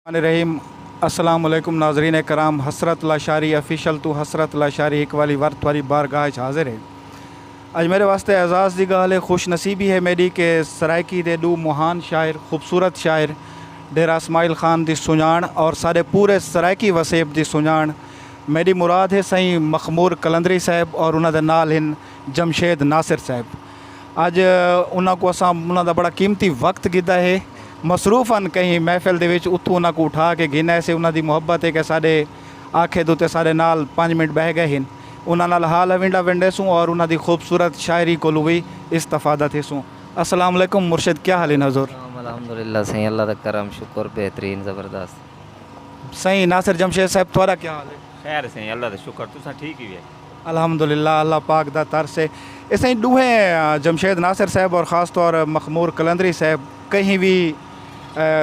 الرحمن الرحیم السلام علیکم ناظرین کرام حسرت لاشاری آفیشل توں حسرت لاشاری ہک والی ور تھواری بارگاہ اچ حاضر ہے اج میرے واسطے اعزاز دی گالھ ہے خوش نصیبی ہے میڈی کہ سرائیکی دے ڈو مہان شاعر خوبصورت شاعر ڈیرہ اسماعیل خان دی سنجان اور ساڈے پورے سرائیکی وسیب دی سنجان میڈی مراد ہے سئیں مخمور قلندری صاحب اور انہاں دے نال ہن جمشید ناصر صاحب اج انہاں کوں اساں انہاں دا بڑا قیمتی وقت گھدا ہے مصروف ہن کہیں محفل دے وچ اتھوں انہاں کوں اٹھا کے گھن آئے سے انہاں دی محبت ہے کہ ساڈے آکھے دے اتے ساڈے نال پنج منٹ بہہ گئے ہن انہاں نال حال ہوینڈا ونڈیسوں اور انہاں دی خوبصورت شاعری کولوں وی استفادہ تھیسوں السلام علیکم مرشد کیا حال ہن حضور۔ سلام الحمدللہ سائیں اللہ دا کرم شکر بہترین زبردست۔ سائیں ناصر جمشید صاحب تہاڈا کیا حال ہے۔ خیر ہے سائیں اللہ دا شکر تساں ٹھیک ہی ہے۔ الحمدللہ اللہ پاک دا ترس ہے اسائی ڈوہیں جمشید ناصر صاحب اور خاص طور مخمور قلندری صاحب کہیں وی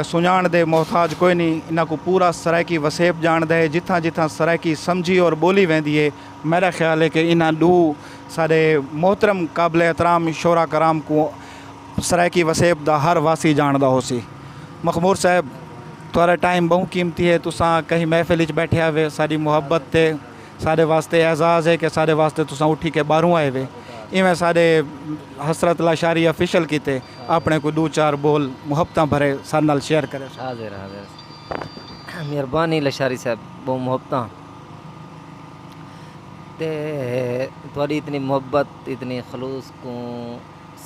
سنجان دے محتاج کوئی نی انہاں کوں پورا سرائیکی وسیب جاندا ہے جتھاں جتھاں سرائیکی سمجھی اور بولی ویندی ہے میڈا خیال ہے کہ انہاں ڈو ساڈے محترم قابل احترام شعرا کرام کوں سرائیکی وسیب دا ہر واسی جاندا ہوسی مخمور صاحب تہاڈا ٹائم بہوں قیمتی ہے تساں کہیں محفل اچ بیٹھے ہوے ساڈی محبت تے ساڈے واسطے اعزاز ہے کہ ساڈے واسطے تساں اٹھی کے باہروں آئے وے ایویں ساڈے حسرت لاشاری آفیشل کیتے اپنے کوئی ڈو چار بول محبتاں بھرے ساڈے نال شیئر کرے سو۔ حاضر حاضر مہربانی لشاری صاحب بہوں محبتاں تے تہاڈی اتنی محبت اتنی خلوص کوں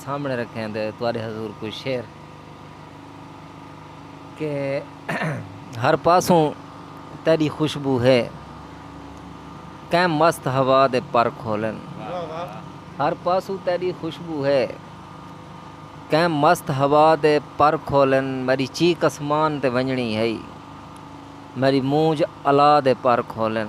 سامنے رکھیں دے تہاڈے حضور کوئی شعر۔ کہ ہر پاسوں تیݙی خوشبو ہے کئیں مست ہوا دے پر کھولن ہر پاسوں تیݙی خوشبو ہے کئیں مست ہوا دے پر کھولن میݙی چیخ اسمان تے ونڄݨی ہئی میݙی مونجھ الا دے پر کھولن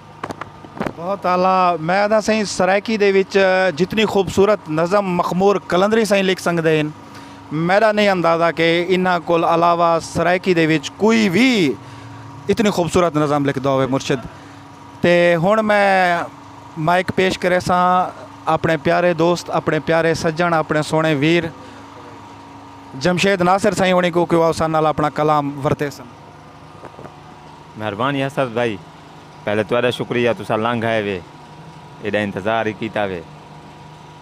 بہت اعلی میں آدھا سائیں سرائیکی دے وچ جتنی خوبصورت نظم مخمور قلندری سائیں لکھ سنگدے ہن میڈا نہیں اندازہ کہ انہاں کول علاوہ سرائیکی دے وچ کوئی وی اتنی خوبصورت نظم لکھدا ہووے مرشد تے ہن میں مائک پیش کریساں اپنے پیارے دوست اپنے پیارے سجن اپنے سونے ویر جمشید ناصر سائیں ہونی کو کہ وہ اساں نال اپنا کلام ورتیسن مہربانی حسرت بھائی پہلے تہاڈا شکریہ تساں لنگھ آئے وے ایڈا انتظار ہی کیتا وے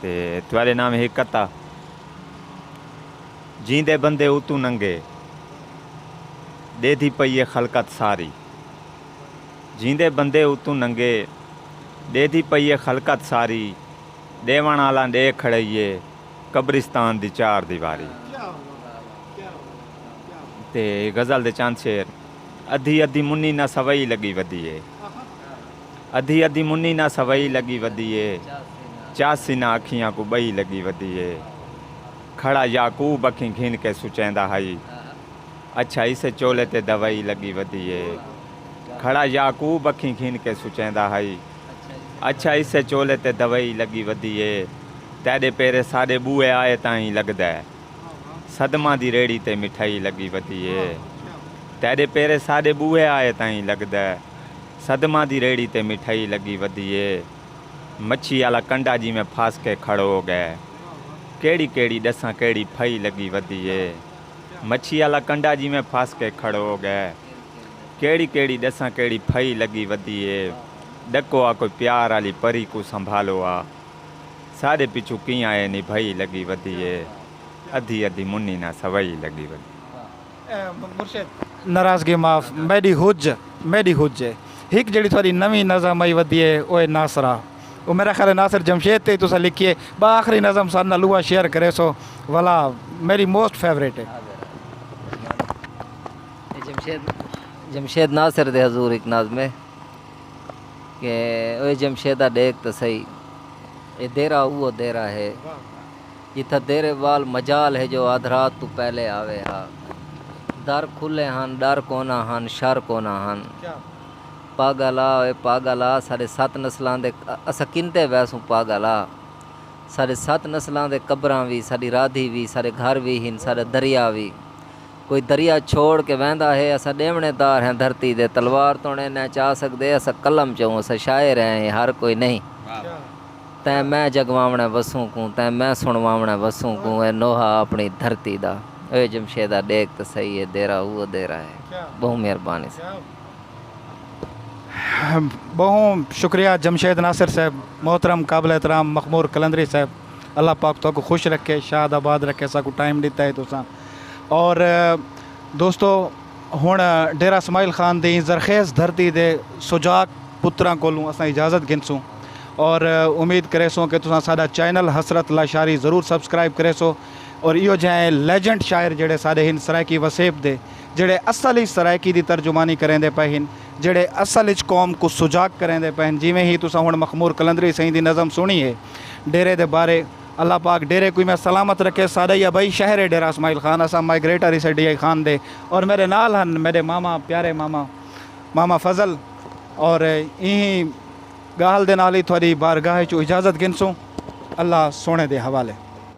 تے تہاڈے نام ہک کتا جیندے بندے اتوں ننگے ڈیدھی پئی اے خلقت ساری جیندے بندے اتوں ننگے ڈیدھی پئی اے خلقت ساری ڈیونڑ آلاں ڈے کھڑئی اے قبرستان دی چار دیواری۔ تے غزل دے چند شعر۔ ادھی ادھی منی نہ سوئی لگی ودی اے۔ ادھی ادھی منی نہ سوئی لگی ودی اے۔ چاسی نہ اکھیاں کوں ٻئی لگی ودی اے۔ کھڑا یعقوب اکھیں گھن کے سچیندا ہئی۔ اچھا اسے چولے تے دوئی لگی ودی اے۔ کھڑا یعقوب اکھیں گھن کے سچیندا ہئی۔ اچھا اسے چولے تے دوئی لگی ودی اے۔ تیڈے پیرے ساڈے بوئے آئے تاں ایں لگدے۔ صدماں دی ریڑھی تے مٹھائی لڳی ودی اے تیݙے پیرے ساݙے ٻوہے آئے تائیں لڳدے صدماں دی ریڑھی تے مٹھائی لڳی ودی اے مچھی آلا کنڈا جیویں پھس کے کھڑو ڳئے کیڑی کیڑی ݙساں کیڑی پھائی لڳی ودی اے مچھی آلا کنڈا جیویں پھس کے کھڑو ڳئے کیڑی کیڑی ݙساں کیڑی پھائی لڳی ودی اے ݙکو آ کوئی پیار آلی پری کوں سنبھالو آ۔ ساݙے پچھوں کیاں اے نبھائی لڳی ودی اے ادھی ادھی منی نہ سوائی لڳی ودی۔ ناراضگی معاف میݙی ہج میݙی ہج اے ہک جیڑھی تہاݙی نویں نظم آئی ودی اے او اے ناصرا او میݙا خیال اے ناصر جمشید تے ہی تساں لکھی اے ٻا آخری نظم ساݙے نال اوہا شیئر کریسو ولا میݙی موسٹ فیورٹ اے۔ جمشید ناصر دے حضور ہک ناظم اے۔ اوئے جمشیدہ ڈیکھ تاں سہی اے دیرہ اوہو دیرہ ہے جتھاں تیرے وال مجال ہے جو ادھرات توں پہلے آوے ہا در کھلے ہن ڈر کونا ہن شر کونا ہن پاگل آ اوئے پاگل آ ساڈے ست نسلاں دے اساں کنتے ویسوں پاگل آ ساڈے ست نسلاں دے قبراں وی ساڈی رادھی وی ساڈے گھر وی ہن ساڈا دریا وی کوئی دریا چھوڑ کے ویندا ہے اساں ڈیونے دار ہیں دھرتی دے تلوار توں اڑے نیں چا سگدے اساں قلم چوں اساں شاعر ہیں ایں ہر کوئی نہیں تیں میں جگواونے وسوں کوں تیں میں سنواونے وسوں کوں اے نوحہ اپنی دھرتی دا اوے جمشیدہ ڈیکھ تے سہی اے دیرہ اوہ دیرہ ہے بہوں مہربانی صاحب۔ بہوں شکریہ جمشید ناصر صاحب محترم قابل احترام مخمور قلندری صاحب اللہ پاک تہاکوں خوش رکھے شاد آباد رکھے اساکوں ٹائم ڈتا ہے تساں اور دوستو ہݨ ڈیرہ اسماعیل خان دی زرخیز دھرتی دے سجاک پتراں کولوں اساں اجازت گھنسوں اور امید کریسوں کہ تساں ساڈا چینل حسرت لاشاری ضرور سبسکرائب کریسو اور ایہو جہیں لیجنڈ شاعر جیڑھے ساڈے ہن سرائیکی وسیب دے جیڑھے اصل اچ سرائیکی دی ترجمانی کریندے پئے ہن جیڑھے اصل اچ قوم کوں سجاک کریندے پئے ہن جیویں ہی تساں ہݨ مخمور قلندری سئیں دی نظم سݨی ہے ڈیرے دے بارے اللہ پاک ڈیرے کوئی میں سلامت رکھے ساڈا یا بھائی شہر ہے ڈیرہ اسماعیل خان اساں مائیگریٹر ہیسے ڈی آئی خان دے اور میرے نال ہن میڈے ماما پیارے ماما ماما فضل اور ایہی گالھ دے نال ہی تھوڑی بارگاہ چوں اجازت گھنسوں اللہ سونے دے حوالے۔